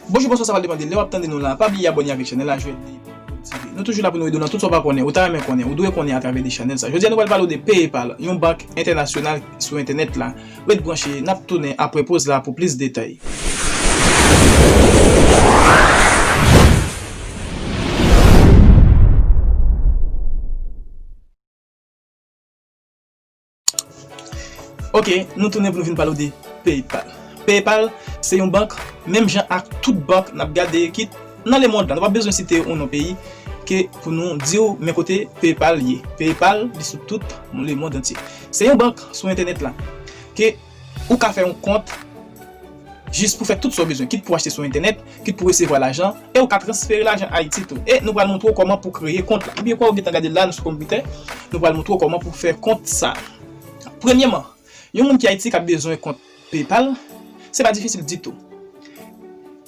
Bonjou bonswa sa pral depande lè wap tande nou la pa bliye abòne avèk chanèl la jwèt li pwodiktif nou toujou la pou nou ede w nan tout sa w pa konnen ou ta renmen konnen ou dwe konnen atravè de chanèl sa jodi a nou pral pale w de paypal yon bank entènasyonal sou entènèt la ret branche nap tounen aprè poz la pou plis detay. Ok nou tounen pou nou vin pale w de PayPal. PayPal se yon bank menm jan ak tout bank n ap gade ki nan lemond la. Nou pa bezwen site yon non peyi ke pou nou di w men kote PayPal ye. PayPal li sou tout lemond antye. Se yon bank sou entènèt la ke. Ou ka fè yon kont jis pou fè tout sa w bezwen, kit pou achte sou entènèt, kit pou resevwa lajan, e ou ka transfere lajan Ayiti tou. E nou pral montre w kòman pou kreye kont la. Oubyen kwa ou gentan gade l la nan sou konpitè, nou pral montre w kòman pou fè kont sa. Premyeman, yon moun ki Ayiti ka bezwen kont PayPal, se pa difisil ditou.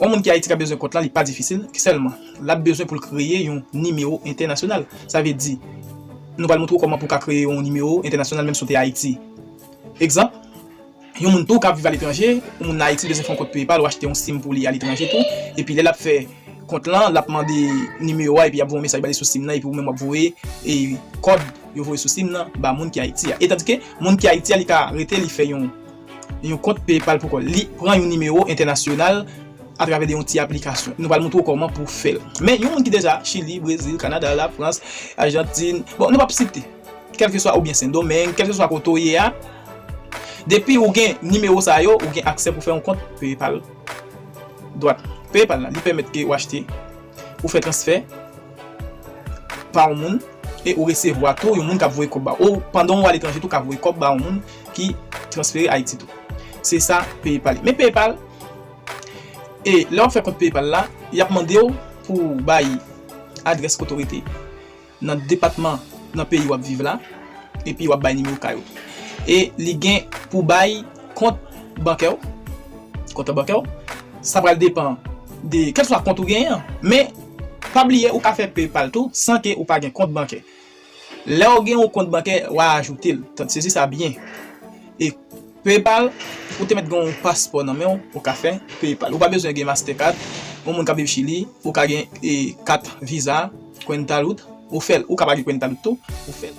Yon moun ki Ayiti ka bezwen kont la, li pa difisil, sèlman l ap bezwen pou l kreye yon nimewo entènasyonal. Sa vle di, nou pral montre w kòman pou w ka kreye yon nimewo entènasyonal menm si w te Ayiti. Egzanp, Yon moun tou kap viv aletranje, yon moun Ayiti bezwen fè yon kont peye pal ou achte yon sim pou li aletranje tou, epi lè lap fè kont lan lap mande nimewo a epi yap voye yon mesaj bale sou sim nan epi ou menm wap voye kòd yo voye sou sim nan ba moun ki Ayiti a. E tandike moun ki Ayiti a li ka rete li fè yon yon kont peye pal pou kòl li pran yon nimewo entènasyonal atravè de yon ti aplikasyon. Nou pral montre ou kòman pou fèl. Men yon moun ki deja Chili, Brezil, Kanada, Lafrans, Ajantin, bon nou pap site. Kèlkeswa ou byen sendomeng, kèlkeswa kote ou ye a, depi ou gen nimewo sa yo, ou gen aksè pou fè yon kont paypal. Dwat paypal la, li pèmèt ke ou achte, ou fè transfè pa yon moun e ou resevwa tou yon moun kap voye kòb ba ou, ou pandan ou aletranje tou ka voye kòb ba yon moun ki transfere ayiti tou. Se sa paypal ye. Men paypal, e lè wap fè kont paypal la, yap mandew pou bay adrès kote ou rete. Nan depatman nan peyi wap viv la epi wap bay nimewo kay ou e li gen pou bay kont bankè ou konte bankè ou sa pral depan de kèlkswa kont ou genyen an men pa bliye ou ka fè PayPal tou san ke ou pa gen kont bankè lèw gen yon kont bankè wa ajoutel tande sezi sa byen e PayPal ou te mèt gen yon paspò nan menw ou ka fè PayPal ou pa bezwen gen mastercard yon moun kap viv chili ou ka gen kat visa. Quentalud ou fèl ou ka page quentalud tou ou fèl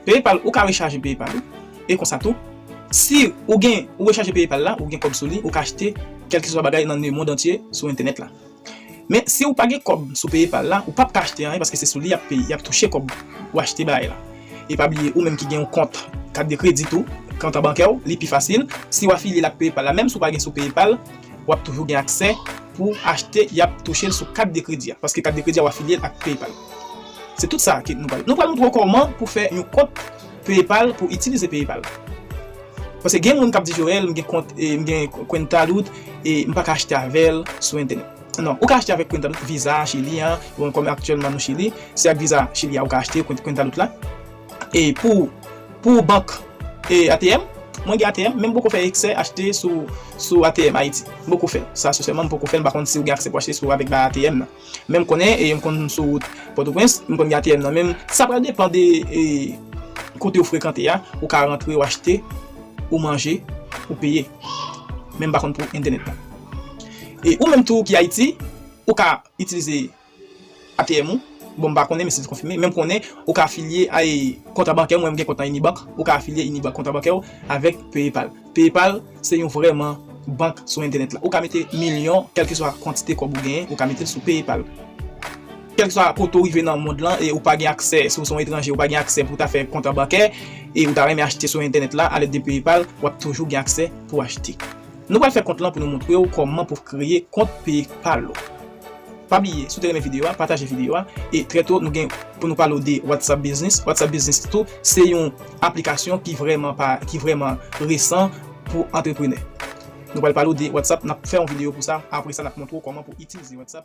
paypal ou ka rechaje paypal ou e konsa tou si ou gen ou rechaje paypal la ou gen kòb sou li ou ka achte kelkeswa bagay nan le mond antye sou entènèt la men si ou pa gen kòb sou paypal la ou pap ka achte anyen paske se sou li yap peye yap touche kòb ou achte bagay la e pa bliye ou menm ki gen yon kont kat de kredi tou kont an bankè ou li pi fasil si ou afilye l ak paypal la menm si ou pa gen sou paypal wap toujou gen aksè pou achte yap touchel sou kat de kredi a paske kat de kredi a wa filyel ak paypal se tout sa ke nou pral nou pral moutre w kòman pou fè yon kont paypal pou itilize paypal paske gen moun kap di Joel m gen kont e m gen quentalud e m paka achte avèl sou entènèt nan ou ka achte avèk quentalud visa chili an bon kòm aktyèlman nou chili se ak visa chili a ou ka achte quentalud la. E pou Pou bank e ATM Mwen gen ATM men m poko fè eksè achte sou sou ATM Ayiti m poko fè sa sensèman m poko fè m pa konn si ou gen aksè pou achte sou avèk ba ATM nan men m konnen e m konn sou wout pòtoprens m konn gen ATM nan men m sa pral depan de e kote ou frekante a ou ka rantre ou achte ou manje ou peye men m pa konn pou entènèt nan e ou menm tou ki Ayiti ou ka itilize ATM ou, bon m pa konnen men si l konfime, men m konnen ou ka afilye a e konta bankè mwen m gen kont nan Inibank, ou ka afilye Inibank konta bankè w avèk PayPal. PayPal se yon vrèman bank sou entènèt la. Ou ka mete milyon, kèlkeswa kantite kòb ou genyen, ou ka mete l sou PayPal. Kèlkeswa kote ou rive nan mond lan e ou pa gen aksè, si w se yon etranje ou pa gen aksè pou w ta fè konta bankè e ou ta renmen achte sou entènèt la alèd de PayPal, w ap toujou gen aksè pou w achte. Nou pral fè kont lan pou nou moutre ou kòman pou kreye kont paypal ou. Pa bliye si w te renmen videyo a pataje videyo a e trè to nou gen pou nou pale w de whatsapp business, whatsapp business tou se yon aplikasyon ki vrèman pa ki vrèman resan pou antreprenè. Nou pral pale w de whatsapp nap fè yon videyo pou sa apre sa nap montre w kòman pou itilize whatsapp.